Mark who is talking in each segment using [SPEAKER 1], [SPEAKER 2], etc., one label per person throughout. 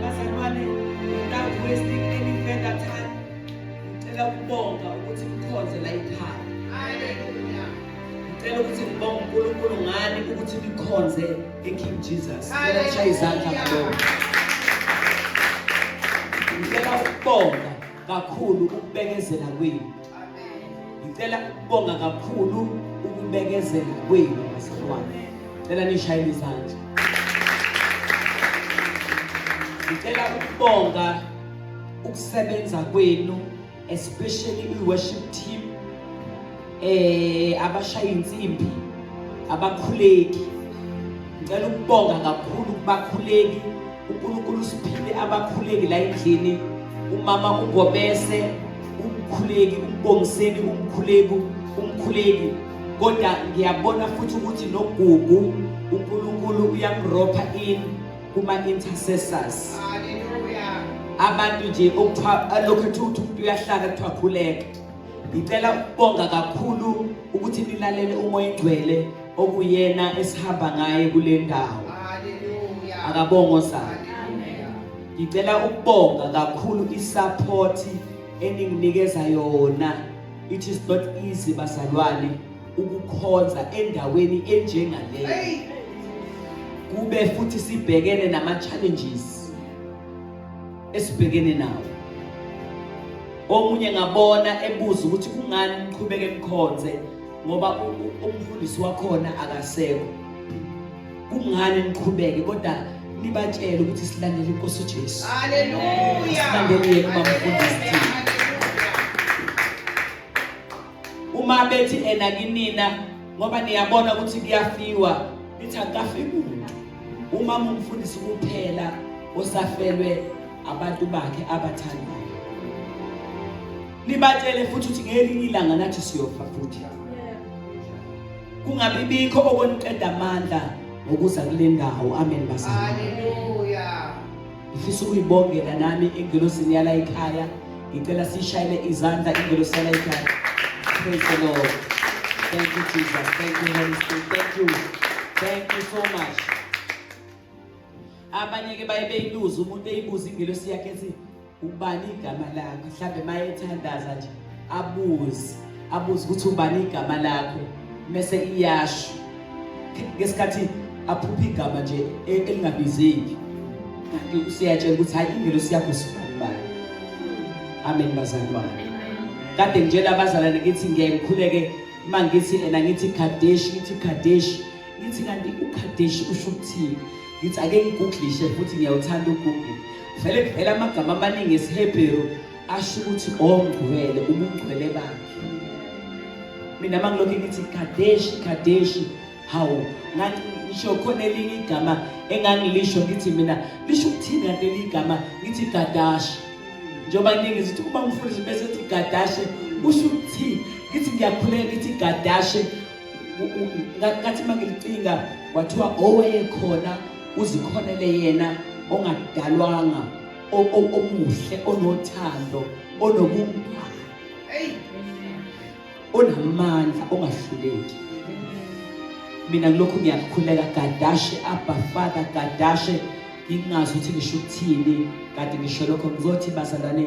[SPEAKER 1] Bazalwane, nginaku westing any further time. Ngicela ukubonga ukuthi mkhonze la ekhaya. Hallelujah. Ngicela ukuthi ngibonge uNkulunkulu ngani ukuthi nikhonze eKing Jesus. Ngiyashaya izandla ngabonga. Ngicela ukubonga kakhulu ukubekezela kwenu. ngicela ukubonga kakhulu ukubekezela kwenu bazalwane cela nishayele izandla ngicela ukubonga ukusebenza kwenu especially i-worship team eh abashaya insimbi abakhuleki ngicela ukubonga kakhulu kubakhuleki unkulunkulu usiphile abakhuleki la endlini umama ungobese umkhuleki umbongiseni umkhuleki umkhuleki kodwa ngiyabona futhi ukuthi nogugu unkulunkulu uyamropha in kuma-intercessors abantu nje okuthiwa lokhu ethi ukuthi umuntu uyahlala kuthiwa khuleka ngicela ukubonga kakhulu ukuthi nilalele umoya engcwele okuyena esihamba ngaye kule ndawo akabongo sana ngicela ukubonga kakhulu isupport eninginikeza yona it is not easy bazalwane ukukhonza endaweni enjengaleyo kube futhi sibhekene nama challenges esibhekene nawo omunye ngabona ebuza ukuthi kungani niqhubeke nikhonze ngoba umfundisi wakhona akasekho kungani niqhubeke kodwa nibatshele ukuthi silandele inkosi uJesu haleluya silandele yena bamfundisi uma bethi ena kinina ngoba niyabona ukuthi kuyafiwa nithi akafi muntu uma mumfundisi kuphela osafelwe abantu bakhe abathandayo Nibatshele futhi ukuthi ngelinye ilanga nathi siyofa futhi. Kungabi bikho okoniqeda amandla ngokuza kule ndawo. Amen bazali. Hallelujah. Ngifisa ukuyibongela nami ingelosini yala ekhaya. Ngicela sishayele izandla ingelosi yala ekhaya. Praise the Lord. Thank you Jesus. Thank you Holy Spirit. Thank you. Thank you so much. Abanye ke baye beyibuza umuntu eyibuza ingelosi yakhe ethi ubani igama lakho mhlawumbe uma ethandaza nje abuze abuze ukuthi ubani igama lakho mese iyasho ngesikhathi aphupha igama nje e, elingabizeki kanti usiyatshela ukuthi hayi ingelosi yakho sibanibani amen bazalwane kade ngitshela abazalwane ngithi ngeke ngikhuleke uma ngithi ena ngithi kadeshi ngithi kadeshi ngithi kanti ukadeshi usho ukuthini ngithi ake ngiguglishe futhi ngiyawuthanda ugugli vele kuvela amagama amaningi esihebheru asho ukuthi ongcwele ubungcwele bakhe mina mangilokhu ngithi kadeshi kadeshi hawu ngisho khona elinye igama engangilisho ngithi mina lisho ukuthini kanti leli igama ngithi gadashi njengoba ningi zithi uma ngifundisa bese ethi gadashe kusho ukuthi ngithi ngiyakhuleka ngithi gadashe ngathi uma ngilicinga kwathiwa owayekhona uzikhonele yena ongadalwanga omuhle onothando onobungani onamandla ongahluleki mina ngilokhu ngiyakukhuleka gadashe abba father gadashe ngingazi ukuthi ngisho ukuthini kanti ngisho lokho ngizothi bazalwane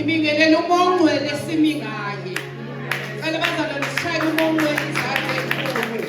[SPEAKER 2] Ibingelele umongcwele simi ngaye. Cela bazalwane sishaye umongcwele izandla ezinkulu.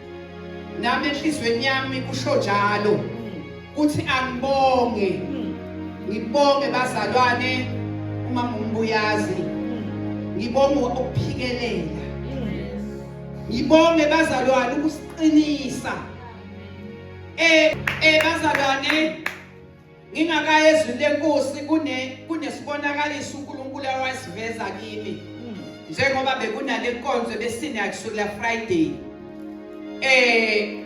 [SPEAKER 2] nami enhlizweni yami kusho njalo kuthi angibonge ngibonge bazalwane uma ngumbuyazi ngibonge ukuphikelela ngibonge bazalwane ukusiqinisa eh eh bazalwane ngingakayi ezwini lenkosi kunesibonakaliso unkulunkulu awasiveza kimi hmm. njengoba bekunale nkonzo ebesinakusukela friday eh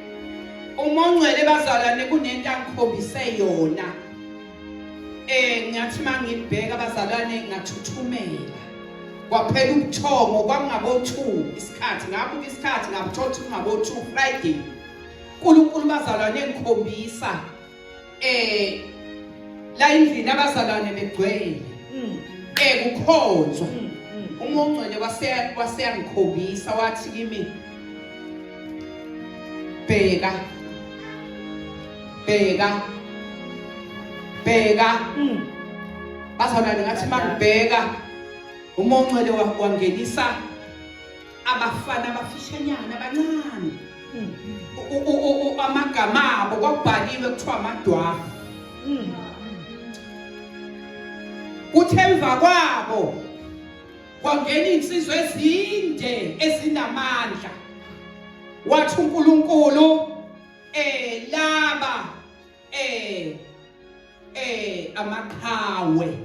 [SPEAKER 2] uma ungcwele bazalwane kunento angikhombise yona eh ngathi mangibheka bazalwane ngathuthumela kwaphela ubuthongo kwangabo2 isikhathi ngabuka isikhathi ngabuthola ukuthi kungabo2 Friday uNkulunkulu bazalwane engikhombisa eh la endlini abazalwane begcwele mm. eh kukhonzwa mm, mm. uma ongcwele waseya waseyangikhombisa wathi kimi bheka bheka bheka bazalwane ngathi mangibheka uma ongcwele wangenisa abafana abafishanyana abancane amagama abo kwakubhaliwe kuthiwa amadwafu kuthi emva kwabo kwangena insizwa ezinde ezinamandla wathi uNkulunkulu eh laba eh eh amaqhawe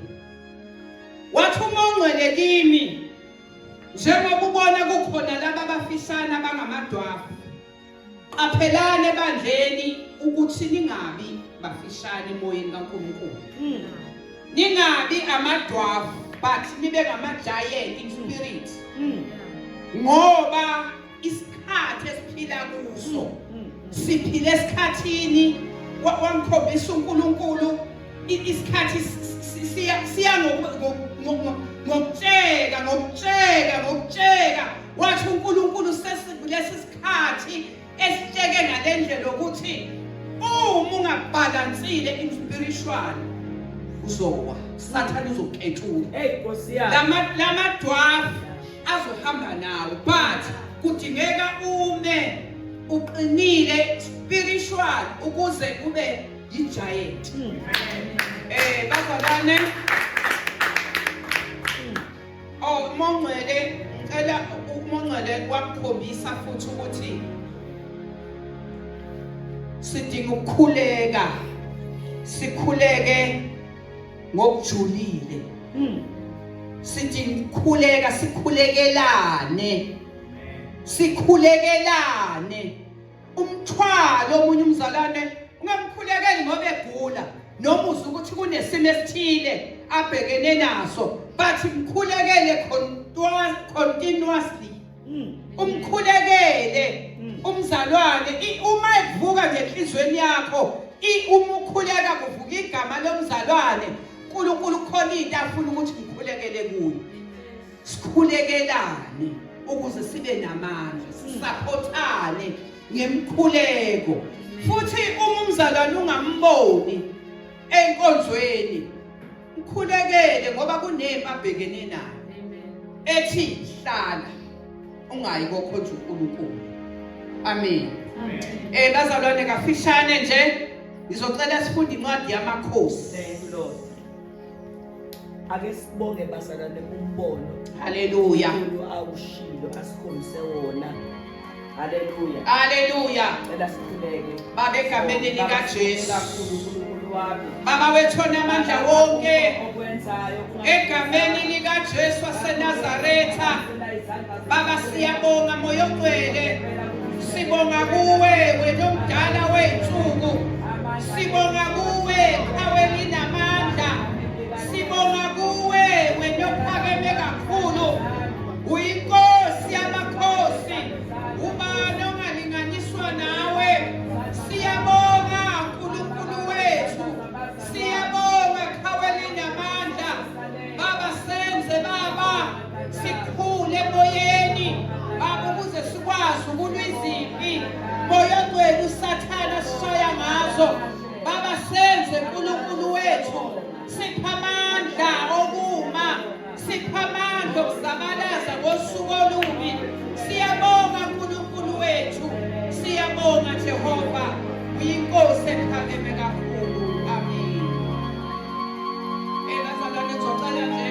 [SPEAKER 2] wathi uma ungcwele kimi njengoba ubona kukhona laba abafisana bangamadwafu qaphelane ebandleni ukuthi ningabi bafishane emoyeni kaNkulunkulu hmm. ningabi amadwafu but nibe ngama giant in spirit hmm. ngoba isikhathi esiphila kuso mm, mm, mm. siphile esikhathini wamkhombisa uNkulunkulu isikhathi siya ngokutsheka ngokutsheka ngokutsheka wathi uNkulunkulu sesilesi sikhathi esitsheke ngalendlela ukuthi uma ungabhalansile in spiritual uzowa sathane uzokethuka hey nkosi yami lama
[SPEAKER 1] lama dwarf
[SPEAKER 2] azohamba nawo but kudingeka ume uqinile spiritual ukuze ube yi-giant hmm. eh bazalwane oh umongcwele ngicela umongcwele wakukhombisa futhi ukuthi sidinga ukukhuleka sikhuleke ngokujulile hmm. sithi ngikhuleka sikhulekelane sikhulekelane umthwalo omunye umzalwane ungamkhulekeli ngoba egula noma uzwa ukuthi kunesimo esithile abhekene naso but mkhulekele continuously Mm. umkhulekele mm. umzalwane uma evuka ngenhlizweni yakho uma ukhuleka kuvuka igama lomzalwane uNkulunkulu khona into afuna ukuthi ngikhulekele kuyo sikhulekelane ukuze sibe namandla mm. sisaphothane ngemkhuleko futhi uma umzalwane ungamboni enkonzweni ukhulekele ngoba kunempi abhekene nayo ethi hlala ungayi kokhonja uNkulunkulu amen eh bazalwane kafishane nje ngizocela sifunde incwadi yamakhosi thank you lord
[SPEAKER 1] ake sibonge bazalwane umbono haleluya
[SPEAKER 2] awushilo
[SPEAKER 1] asikhombise wona Haleluya. Haleluya.
[SPEAKER 2] Cela sikhuleke.
[SPEAKER 1] Baba egameni
[SPEAKER 2] likaJesu.
[SPEAKER 1] Baba wethu onamandla
[SPEAKER 2] wonke
[SPEAKER 1] egameni
[SPEAKER 2] likaJesu waseNazaretha. Baba siyabonga moya ogcwele. Sibonga kuwe wena omdala wey'nsuku. Sibonga kuwe qhawe linamandla. Sibonga kuwe wena ophakeme kakhulu. Uyinkosi yamakhosi, ubani ongalinganiswa nawe? Siyabonga Nkulunkulu wethu, siyabonga qhawe linamandla. Baba senze baba sikhule emoyeni, baba ukuze sikwazi ukulwa izimpi. Moya ogcwele usathane asishaya ngazo. Baba senze Nkulunkulu wethu, sipha amandla okuma. Siphamandla okuzabalaza ngosuku olubi. Siyabonga uNkulunkulu wethu. Siyabonga Jehova. Uyinkosi ephakeme kakhulu. Amen. Ebazalwane eh, zocela nje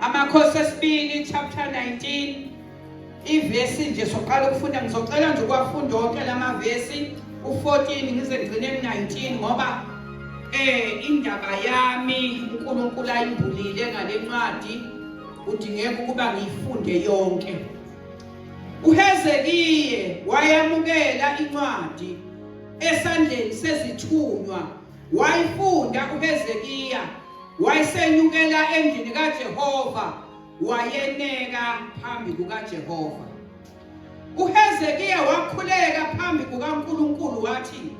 [SPEAKER 2] Amakhosi esibili chapter 19 ivesi nje soqala ukufunda ngizocela nje ukuwafunda wonke lamavesi u14 ngize ngigcine ku19 ngoba eh indaba yami uNkulunkulu ayimbulile ngalencwadi udingeka ukuba ngiyifunde yonke uHezekiye wayamukela incwadi esandleni sezithunywa Wayifunda uHezekiya wayesenyukela endlini kaJehova wayeneka phambi kukaJehova. UHezekiya wakhuleka phambi kukaNkulunkulu wathi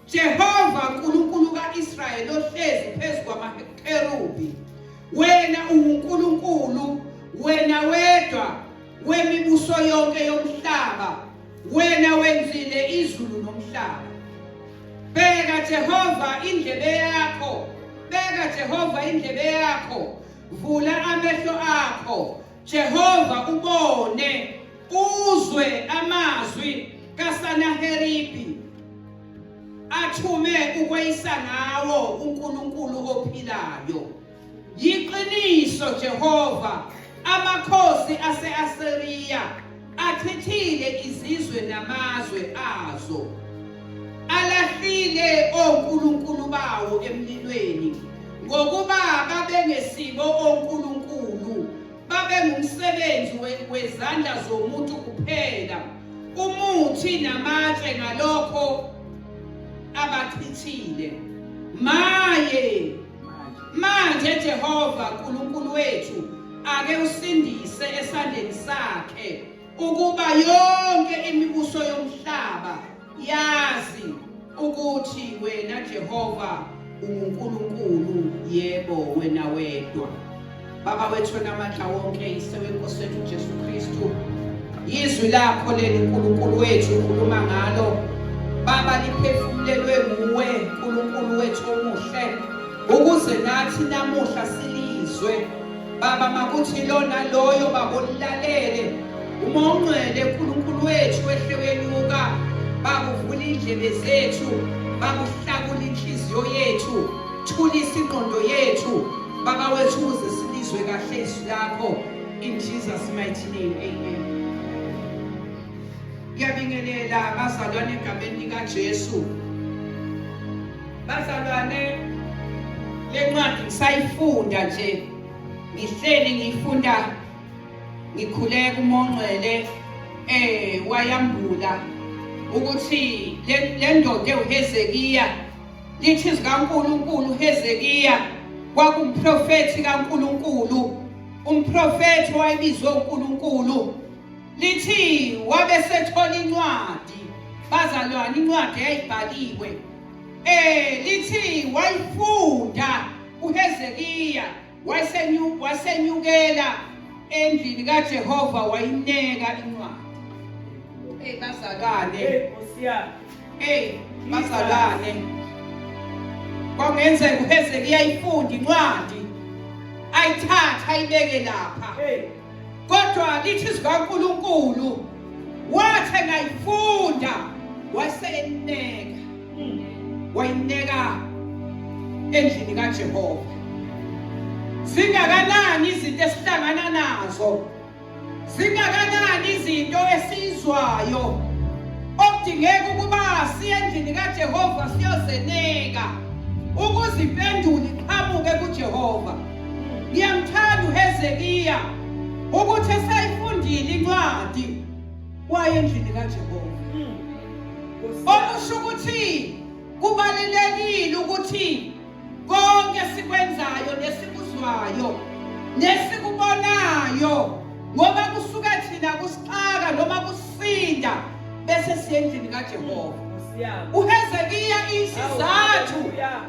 [SPEAKER 2] Jehova Nkulunkulu kaIsrayeli ohlezi phezu kwamakerubi wena uNkulunkulu wena wedwa wemibuso yonke yomhlaba wena wenzile izulu nomhlaba bheka Jehova indlebe yakho bheka Jehova indlebe yakho vula amehlo akho Jehova ubone uzwe amazwi kaSanaheribi athume ukweyisa ngawo uNkulunkulu ophilayo Yiqiniso Jehova amakhosi ase-Asiriya achithile izizwe namazwe azo alahlile onkulunkulu bawo emlilweni ngokuba babengesibo onkulunkulu babengumsebenzi wezandla zomuntu kuphela umuthi namatshe ngalokho abachithile maye Manje Jehova Nkulunkulu wethu ake usindise esandleni sakhe ukuba yonke imibuso yomhlaba yazi ukuthi wena Jehova unguNkulunkulu yebo wena wedwa. Baba wethu namandla wonke yise wenkosi wethu Jesu Kristu yizwi lakho leli Nkulunkulu wethu ukhuluma ngalo Baba liphefumulelwe nguwe Nkulunkulu wethu omuhle ukuze nathi namuhla silizwe Baba makuthi lona loyo babolilalele uma ungcwele Nkulunkulu wethu wehle wenyuka bakuvula indlebe zethu bakuhlakula inhliziyo yethu thulisa ingqondo yethu Baba wethu uze silizwe kahle izwi lakho in Jesus mighty name. Amen. Ngiyabingelela abazalwane egameni likaJesu. Bazalwane le ncwadi ngisayifunda nje. Ngihleli ngiyifunda ngikhule kumongcwele eh wayambula ukuthi le ndoda ewuHezekiya Lithi izwi kaNkulunkulu Hezekiya kwakumprofethi kaNkulunkulu, umprofethi owayebizwe uNkulunkulu. Lithi wabe sethola incwadi, bazalwane incwadi eyayibhaliwe. Eh lithi wayifunda uHezekiya wasenyukela endlini kajehova wayineka incwadi eyi bazalwane eyi bazalwane kwakungenzeka uhezekiya ifunde incwadi ayithathe ayibeke lapha kodwa lithi zikaNkulunkulu wathe ngayifunda waseneka wayineka endlini kaJehova zingakanani izinto esihlangana nazo zingakanani izinto esizwayo okudingeka ukuba siye endlini kaJehova siyozeneka ukuze impendulo iqhamuke kuJehova Ngiyamthanda uHezekiya ukuthi esayifundile incwadi waye endlini kaJehova. Okusho ukuthi kubalulekile ukuthi konke sikwenzayo nesikuzwayo nesikubonayo ngoba kusuka thina kusixaka noma kusinda bese siyendlini kaJehova. uHezekiya isizathu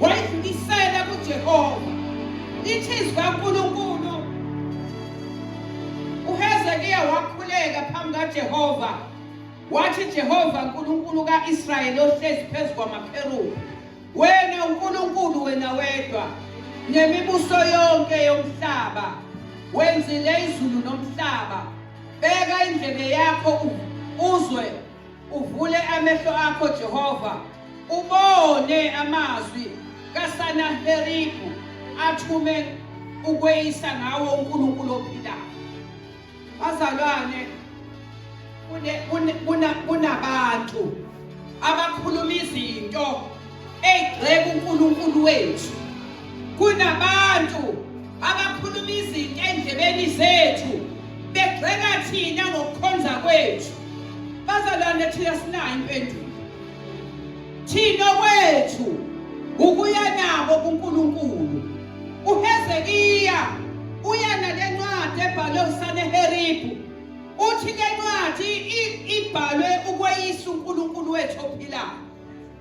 [SPEAKER 2] wayidlulisela kuJehova lithi izwi kaNkulunkulu uHezekiya wakhuleka phambi kaJehova wathi Jehova uNkulunkulu kaIsrayeli ohlezi phezu kwamakherubi wena uNkulunkulu wena wedwa nemibuso yonke yomhlaba wenzile izulu nomhlaba beka indlebe yakho uzwe Uvule amehlo akho Jehova, ubone amazwi kaSanaheribu athume ukweyisa ngawo uNkulunkulu ophilayo. Bazalwane kunabantu abakhuluma izinto Egxeka uNkulunkulu wethu kunabantu abakhuluma izinto endlebeni zethu begxeka thina ngokukhonza kwethu bazalwane thina sinayo impendulo thina kwethu ukuya nabo kuNkulunkulu uHezekiya uya nale ncwadi ebhalwe uSaneheribu uthi le ncwadi ibhalwe ukweyisa uNkulunkulu wethu ophilayo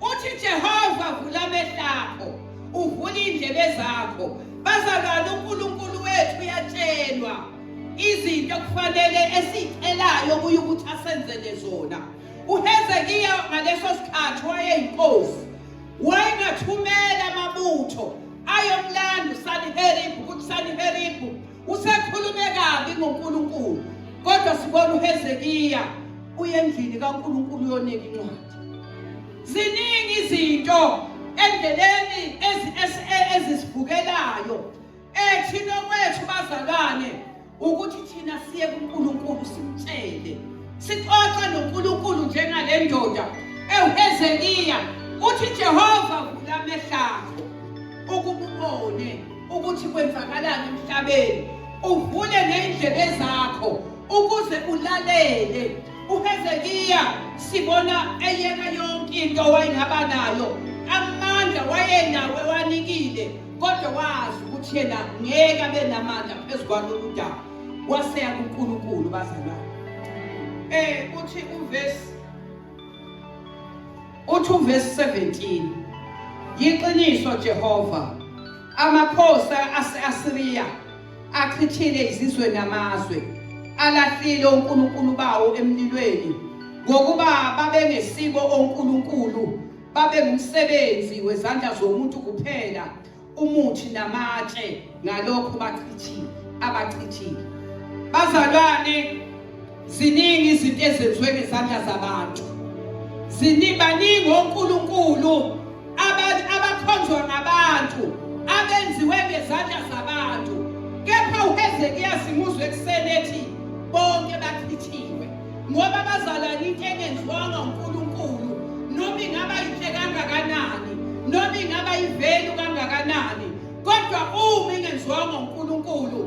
[SPEAKER 2] Uthi Jehova vula amehlakho, uvula indlebe zakho. Bazalwane uNkulunkulu wethu uyatshelwa izinto kufanele esicelayo kuye ukuthi asenzele zona. UHezekiya ngaleso sikhathi wayeyinkosi. Wayengathumela amabutho ayomlanda uSaniheribu ukuthi Saniheribu Usekhulume kabi ngoNkulunkulu kodwa sibona uHezekiya uyendlini kaNkulunkulu yoneka incwadi. Ziningi izinto endleleni ezisibukelayo ethina kwethu bazalwane ukuthi thina siye kuNkulunkulu simtshele. Sixoxa noNkulunkulu njengale ndoda ewuHezekiya uthi Jehova vula amehlakho ukububone ukuthi kwenzakalani emhlabeni uvule ney'ndlebe zakho ukuze ulalele uhezekiya sibona eyeka yonke into wayengaba nayo amandla wayenawo ewanikile kodwa wazi ukuthi yena ngeke abe namandla phezu kwalolu daba waseya kunkulunkulu bazalwane um eh, uthi uvesi Uthi uvesi 17 Yiqiniso Jehova amakhosi ase-Asiriya achithile izizwe namazwe alahlile uNkulunkulu bawo emlilweni ngokuba babengesibo onkulunkulu babe ngumsebenzi wezandla zomuntu kuphela umuthi namatshe ngalokho bachithile abachithile bazalwane ziningi izinto ezenziwe ngezandla zabantu ziningi baningi onkulunkulu abakhonzwa ngabantu abenziwe ngezandla zabantu kepha uhezekiya simuzwe ekuseni ethi bonke bachithiwe ngoba bazalwane into engenziwanga uNkulunkulu noma ingaba yinhle kangakanani noma ingaba yivelu kangakanani kodwa uma ingenziwanga uNkulunkulu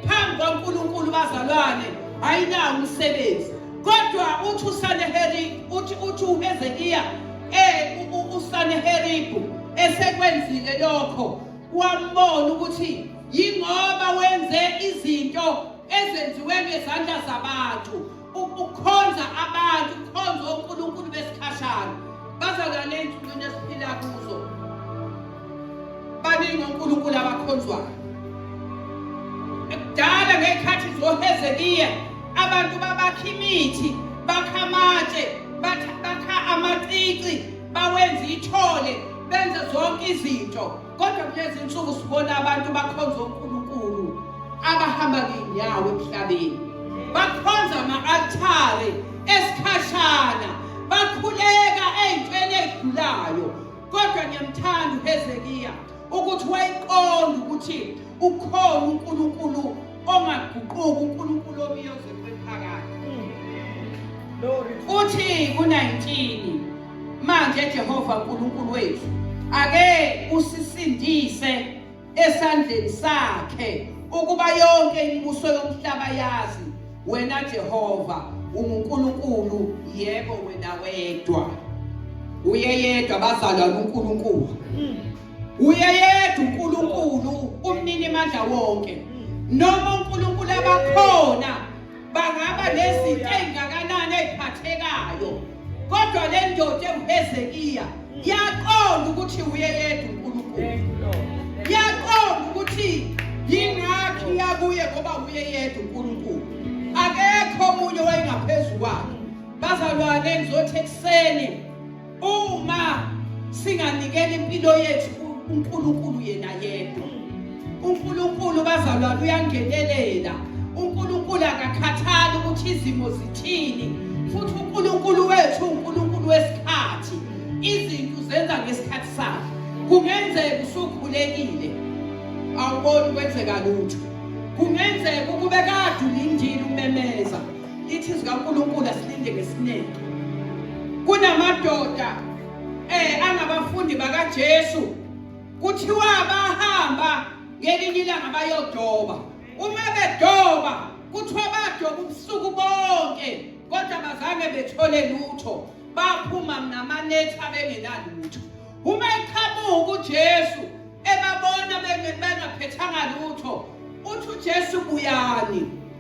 [SPEAKER 2] phambi kwaNkulunkulu bazalwane ayinawo umsebenzi kodwa uthi usaneheri uthi uthi uHezekiya eh usaneheribu esekwenzile lokho wambona ukuthi yingoba wenze izinto ezenziwe ngezandla zabantu ukukhonza abantu ukukhonza onkulunkulu besikhashana bazalwane ezinsukwini esiphila kuzo baningi onkulunkulu abakhonzwayo ekudala ngey'khathi zohezekiya abantu babakha imithi bakha amatshe bakha amacici bawenza ithole benze zonke izinto Kodwa kulezi nsuku sibona abantu bakhonza uNkulunkulu abahamba ngenyawo emhlabeni. Bakhonza ama-altare esikhashana, bakhuleka ey'ntweni ey'dlulayo. Kodwa ngiyamthanda uHezekiya ukuthi wayiqonda ukuthi ukhona uNkulunkulu ongaguquki uNkulunkulu obiyoze kwephakade uthi ku-19 manje Jehova uNkulunkulu wethu ake usisindise esandleni sakhe ukuba yonke imibuso yomhlaba yazi wena Jehova unguNkulunkulu yebo wena wedwa uyeyedwa bazalwa uNkulunkulu uyeyedwa uNkulunkulu umnini mandla wonke noma uNkulunkulu abakhona bangaba nezinto ezingakanani eziphathekayo kodwa le ndoda enguHezekiya yaqonda ukuthi uyeyedwa uNkulunkulu yaqonda ukuthi yingakhi yakuye ngoba uyeyedwa uNkulunkulu akekho omunye wayengaphezulu kwakhe bazalwane ngizothi ekuseni Uma singanikela impilo yethu uNkulunkulu yena yedwa. uNkulunkulu bazalwane uyangenelela. uNkulunkulu akakhathali ukuthi izimo zithini futhi uNkulunkulu wethu uNkulunkulu wesikhathi. Izinto zenza ngesikhathi sakhe. Kungenzeka usukhulekile awuboni kwenzeka lutho. Kungenzeka ukube kade ulindile umemeza lithi zikaNkulunkulu asilinde ngesineke kunamadoda eh angabafundi bakaJesu kuthiwa bahamba ngelinye ilanga bayodoba uma bedoba kuthiwa badoba ubusuku bonke kodwa bazange bethole lutho baphuma namanethi abengenalutho uma eqhamuka uJesu ebabona bengaphethanga lutho uthi uJesu buyani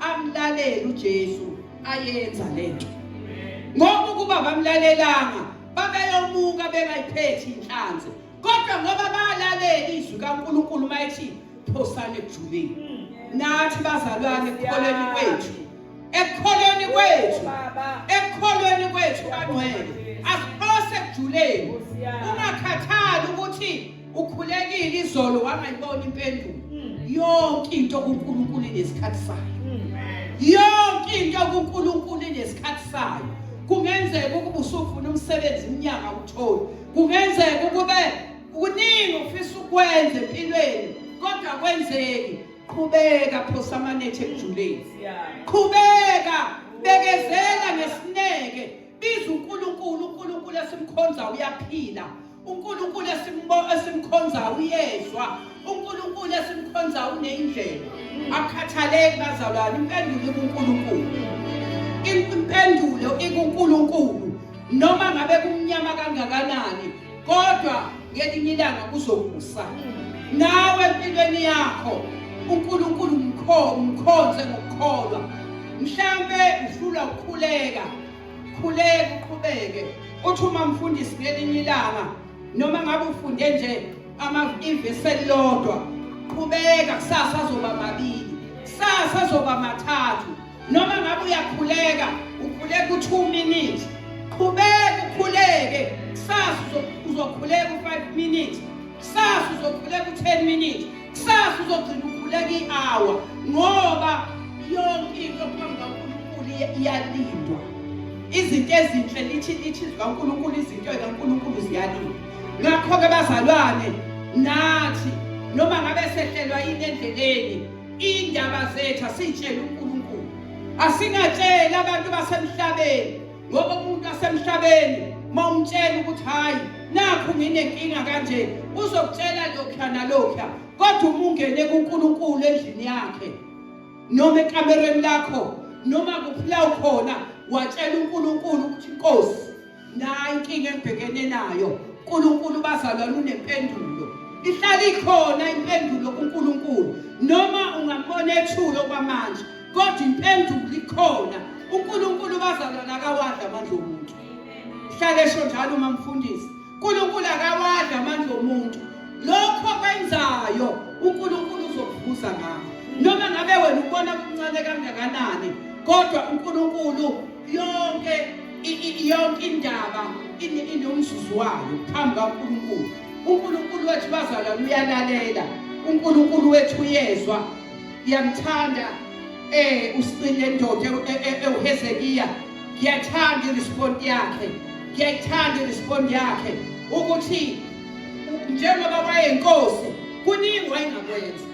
[SPEAKER 2] amlalele uJesu ayenza lento ngoba ukuba bamlalelanga babeyomuka bengayiphethi inhlanzi kodwa ngoba balalela izwi kaNkulunkulu mayithi phosane ekujuleni nathi bazalwane ekukholweni kwethu ekukholweni kwethu ekukholweni kwethu bangcwele asiphose ekujuleni ungakhathali ukuthi ukhulekile izolo wangayibona impendulo mm. yonke into kuNkulunkulu inesikhathi sayo mm. yonke into kuNkulunkulu inesikhathi sayo kungenzeka ukuba usufuna umsebenzi iminyaka uthole kungenzeka ukube kuningi ufisa ukwenza empilweni kodwa kwenzeki qhubeka phosa amanethe ekujuleni qhubeka bekezela ngesineke biza uNkulunkulu uNkulunkulu esimkhonza uyaphila uNkulunkulu esimkhonzayo uyezwa uNkulunkulu esimkhonzayo uneyindlela akukhathaleki bazalwane impendulo kuNkulunkulu impendulo ikuNkulunkulu noma ngabe kumnyama kangakanani kodwa ngelinye ilanga kuzokusa nawe empilweni yakho uNkulunkulu mkhonze ngokukholwa mhlambe uhlula ukukhuleka khuleke uqhubeke uthi uma mfundisi ngelinye ilanga noma ngabe ufunde nje amaveseli lodwa qhubeka kusasa azoba mabili kusasa azoba mathathu noma ngabe uyakhuleka ukhuleka u-two minutes qhubeka ukhuleke kusasa uzokhuleka u-five minutes kusasa uzokhuleka u-ten minutes Kusasa uzogcina ukhuleka i-hour ngoba yonke into phambi kaNkulunkulu iyalindwa. Izinto ezinhle lithi lithi zikaNkulunkulu izinto zikaNkulunkulu ziyalindwa. Ngakho-ke bazalwane nathi noma ngabe sehlelwa yini endleleni indaba zethu asiyitshele uNkulunkulu. Asingatsheli abantu basemhlabeni ngoba umuntu asemhlabeni mawumtshela ukuthi hayi nakho nginenkinga kanje uzokutshela lokha nalokha kodwa uma ungene kuNkulunkulu endlini yakhe noma ekamereni lakho noma kuphila ukhona watshela uNkulunkulu ukuthi inkosi nayi inkinga engibhekene nayo uNkulunkulu bazalwane unempendulo ihlala ikhona impendulo kuNkulunkulu noma ungambona ethule okwamanje kodwa impendulo ikhona uNkulunkulu bazalwana akawadla amandla omuntu hlale esho njalo uma mfundisi uNkulunkulu akawadla amandla omuntu lokho kwenzayo uNkulunkulu uzokuvuza ngakho noma ngabe wena ubona kuncane kangakanani kodwa uNkulunkulu yonke yonke indaba inomzuzu wayo phambi kaNkulunkulu uNkulunkulu wethu bazalwane uyalalela uNkulunkulu wethu uyezwa ngiyamthanda eh usicile ndoda ewuhezekiya e, e, ngiyathanda irespond yakhe ngiyayithanda irespond yakhe ukuthi njengoba wayenkosi kuningi wayengakwenza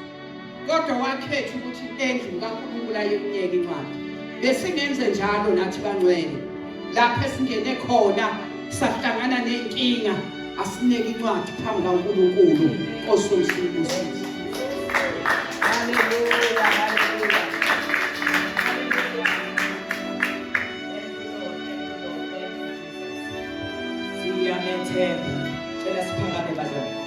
[SPEAKER 2] kodwa wakhetha ukuthi endlini kaNkulunkulu ayekuyeka incwadi besingenze njalo nathi bangcwele lapho esingene khona sahlangana ney'nkinga asineke incwadi phambi kankulunkulu osomsibusisi haleluya
[SPEAKER 1] haleluya siyamethemba cela siphakame bazali